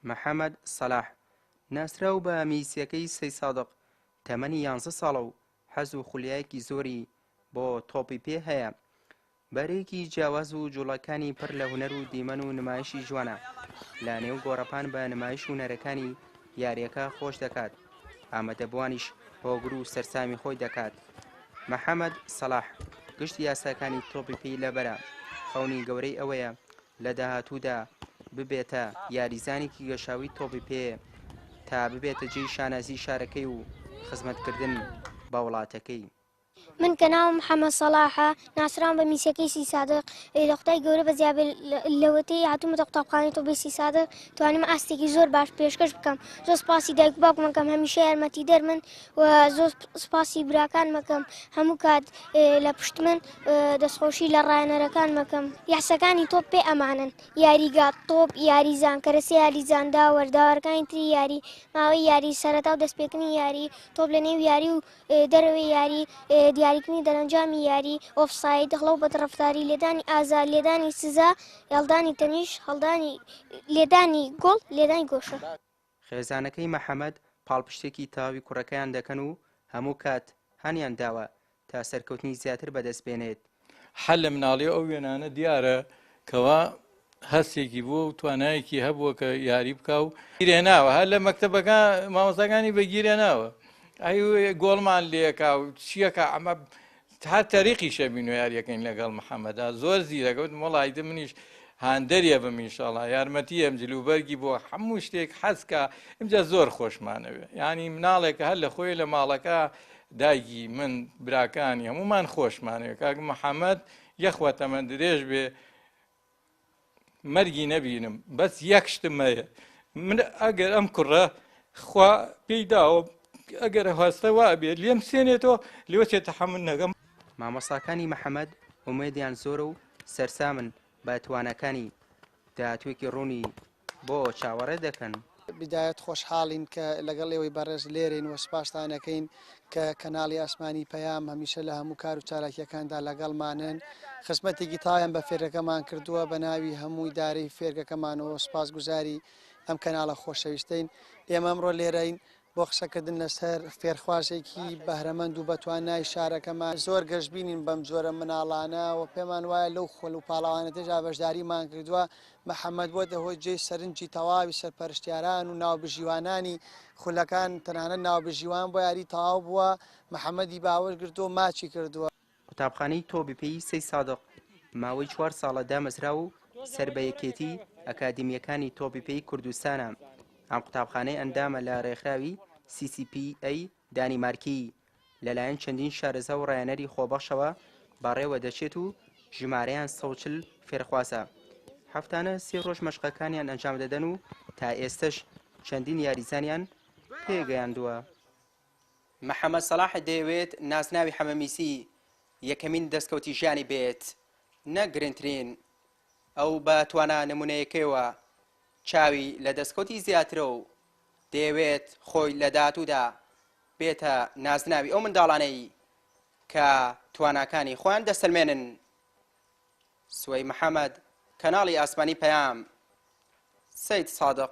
محەمەد سەلاح، ناسراو بە میسیەکەی سەی سادق، تەمەنی یانزە ساڵە و حەز و خولیایەکی زۆری بۆ تۆپی پێ هەیە، بەرەیەکی جیاواز و جوڵەکانی پڕ لە هونەر و دیمەن و نمایشی جوانە، لە نێو گۆڕەپان بە نمایش و نەرەکانی یاریەکە خۆش دەکات، ئامادەبوانیش هۆگر و سەرسامی خۆی دەکات. محەمەد سەلاح گشت یاساکانی تۆپی پێی لەبەرە، خەونی گەورەی ئەوەیە لە داهاتوودا ببێتە یاریزانێکی گەشاوی تۆپی پێ تا ببێتە جێی شانازی شارەکەی و خزمەتکردن بە وڵاتەکەی. من کە ناوم محەمەد سەڵاحە، ناسراوم بە میسەکەی سی سادق، ئەی لە خودای گەورە بەزیا بێ لەوەتەی هاتوومەتە قوتابخانەی طوبی سی سادق توانیمە ئاستێکی زۆر باش پێشکەش بکەم، زۆر سپاسی دایک و باوکمەکەم هەمیشە یارمەتیدەرمن و زۆر سپاسی براکان مەکەم هەموو کات لە پشت من دەستخۆشی لە ڕایەنەرەکان مەکەم یاسەکانی تۆپ پێ ئەمانن یاریگا تۆپ یاریزان کەرەسە یاریزاندا وەرداوارەکانی تری یاری ماوەی یاری سەرەتا و دەستپێکردنی یاری تۆپ لە نێو یاری و دەرەوەی یاری دیاریکردنی دەرەنجامی یاری ئۆفساید هەڵە و بەدڕفتاری لێدانی ئازار لێدانی سزا هێڵدانی تەنیش هەڵدانی لێدانی گۆڵ لێدانی گۆشە. خێزانەکەی محەمەد پاڵپشتێکی تەواوی کوڕەکەیان دەکەن و هەموو کات هانیان داوە تا سەرکەوتنی زیاتر بەدەست بێنێت. هەر لە مناڵی ئەو وێنانە دیارە کەوا هەستێکی بووە و توانایەکی هەبووە کە یاری بکا و گیرێناوە هەر لە مەکتەبەکە مامۆستاکانی بەگیرێناوە ئەی گۆڵمان لێکا و چیەکە ئەمە تا تەریقی شەبین و یاریەکەین لەگەڵ محەمەدا زۆر زیرەکە وتم وەڵا ئیتر منیش هاندەریە بم ئینشاڵا یارمەتی ئەم جلوبەرگی بۆ هەموو شتێک حەزکە ئمجا زۆر خۆشمانەوێ ینی مناڵێکە هەر لە خۆی لە ماڵەکە دایگی من براکانی هەمومان خۆشمانەوێ کاک محەممەد یەخوە تەمە درێژ بێ مەرگی نەبینم بەس یەک شتم هەیە من ئەگەر ئەم کوڕە خوا پێی داوە ئەگەر هەستە وا بێت لێم سێنێتەوە لێوە چێت تەحمل نەگەم مامۆستاکانی محەممەد ئومێدیان زۆرە و سەرسامن بە توانەکانی داهاتوێکی ڕوونی بۆ چاوەڕێ دەکەن؟ بدایەت خۆشحاڵین کە لەگەڵ ئێوەی بەڕێز لێرەین و سوپاستان ئەکەین کە کەناڵی ئاسمانی پەیام هەمیشە لە هەموو کار و چالاکییەکاندا لەگەڵمانن. خزمەتێکی تاویان بە فێرگەکەمان کردووە، بە ناوی هەموو ئیدارەی فێرگەکەمانەوە سوپاسگوزاری ئەم کەناڵە خۆشەویستەین. ئێمە ئەمڕۆ لێرەین بۆ قسەکردن لەسەر فێرخوازێکی بەهرەمەند و بەتوانای شارەکەمان، زۆر گەشبینین بەم جۆرە مناڵانە و پێمان وایە لەو خۆل و پاڵەوانە تێدا بەشداریمان کردووە، محەمەد بۆتە هۆی جێی سەرنجی تەواوی سەرپەرشتیاران و ناوبژیوانانی خولەکان، تەنانەت ناوبژیوان بۆ یاری تەواو بووە، محەمەدی باوەش گرتووە و ماچی کردووە. قوتابخانەی تۆبپێی سەی سادق ماوەی چوار ساڵە دامەزراوە و سەر بە یەکێتی ئەکادیمییەکانی تۆبپێی کوردستانە. ئەم قوتابخانەی ئەندامە لە رێکخراوی CCPA دانیمارکی. لەلایەن چەندین شارەزا و رایەنەری خۆبەخشەوە بەڕێوە دەچێت و ژمارەیان سەد و چل فێرخوازە. هەفتانە سێ رۆژ مەشقەکانیان ئەنجام دەدەن و تا ئێستەش چەندین یاریزانیان پێگەیاندووە. محەمەد سەڵاح دەیەوێت نازناوی حەمەمیسی یەکەمین دەستکەوتی ژیانی بێت نەک گرنترین، ئەو بە توانا نمونەیەکەیەوە چاوی لە دەستکەوتی زیاترە و دەیەوێت خۆی لە داهاتوودا بێتە نازناوی ئەو منداڵانەی کە تواناکانی خۆیان دەسەلمێنن. سوەی محەمەد، کەناڵی ئاسمانی پەیام، سەید سادق.